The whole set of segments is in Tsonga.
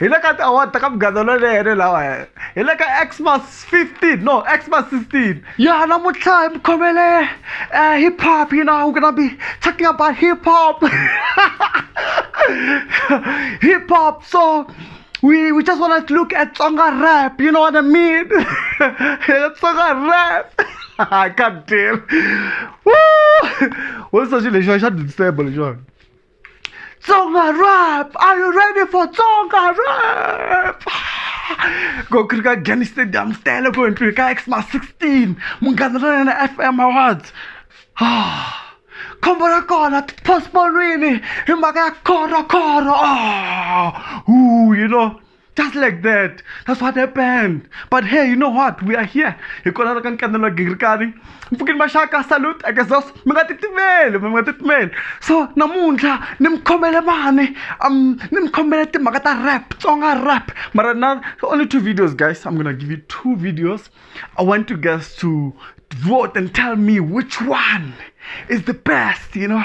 hi le ka tiawara ta ka mugandolo leyene lawa hi le ka xmas 15 no xmas 16 ya namuntlha hi mi khomele eh, hip hop you know we're gonna be talking about hip hop hip hop so we we just want to look at tsonga rap you know what i mean tsonga rap god damn woo what's such a lexion i should disable lexion Tsonga rap! Are you ready for Tsonga rap? Go kuri ka Gani Stadium Stella go entry ka Xmas 16 munghana ra yena FM Awards. Ah, khombo ra kona postponewini hi mhaka ya khoro khoro. Ah, ooh, you know. just like that that's what happened but hey you know what we are here hi kona ka nkanelo wa gingirikani mpfukini maxaka salute akesos mi nga titimeli mi nga titimeli so namuntlha ni mi khomele mani um ni mi khomele timhaka ta rap tsonga rap mara na only two videos guys i'm gonna give you two videos i want you guys to vote and tell me which one is the best you know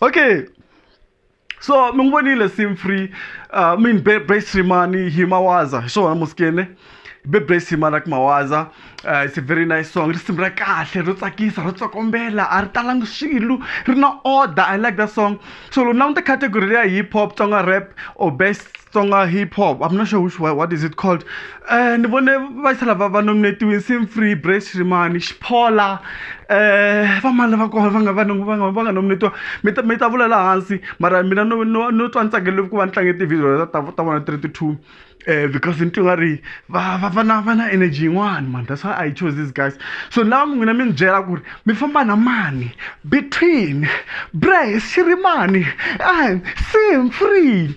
okay so mi n'wi vonile sim free uh, min bebrasimani hi mawaza hi swona musikene bebrasimani ak mawaza uh, it's a very nice song risimu ra kahle ro tsakisa ro tsokombela a ri talangi swilo ri na order i like that song so loko na n'wi ti category leya hip hop tsonga rap or best Tsonga hip hop I'm not sure which one what is it called eh ni vone va tlhela va va nominate-iwe Nseen Free Brave Shrimani Xiphola eh va mani lava kona va nga va nga va nga va nga nominate-iwa mi ta mi ta vula laha hansi mara mina no no no twa ni tsakele ku va ni tlange ti-video ta ta ta vona ti ri ti two um because ni twe nga ri va va va na va na energy yin'wani mani that's why I chose these guys so ni lava n'wina mi ni byela ku ri mi famba na mani between Brave Shirimani and Nseen Free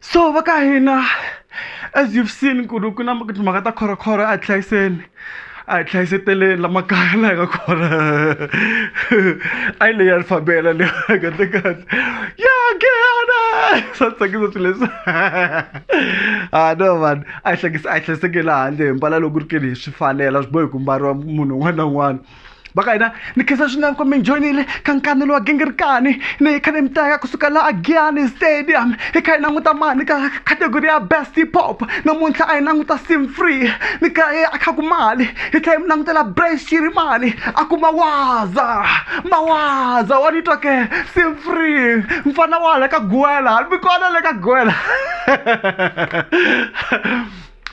so va ka hina as you've seen ku ri ku na timhaka ta khorokhoro a hi hlayiseni a hi hlayiseteleni la makaya la hi nga kona a yi leyi alfabela leyi kahle kahle ya gehana swa tsakisa swilo leswi a no vanhu a hi hlekisa a hi hlayisekeli handle hi mbala loko ri kele hi swi fanela swi bohi ku mbariwa munhu un'wana na un'wana vakaina ni khensa swinene kumbe njonile ka nkanelo wa gingirikani ni hi kha ni mi teka kusuka laha giyani stadium hi kha hi languta mani ka category ya best pop namuntlha a hi languta sim free ni kha hi a kha ku mali hi tlhela hi mi langutela brace xiri mali a ku mawaza mawaza wa ni twa ke sim free mfana wa hala ka guwela ni mi kona le ka guwela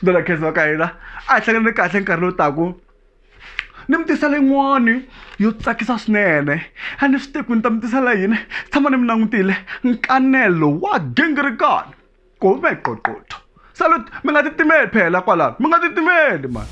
dona khensa wa ka hina a hi hlanganile kahle nkarhi lowu taku ni mi tisela yin'wani yo tsakisa swinene a ni swi tivi ku ni ta mi tisela yini tshama ni mi langutile nkanelo wa gingirikani kumbe qoqotho salut mi nga titimeli phela kwalano mi nga titimeli mani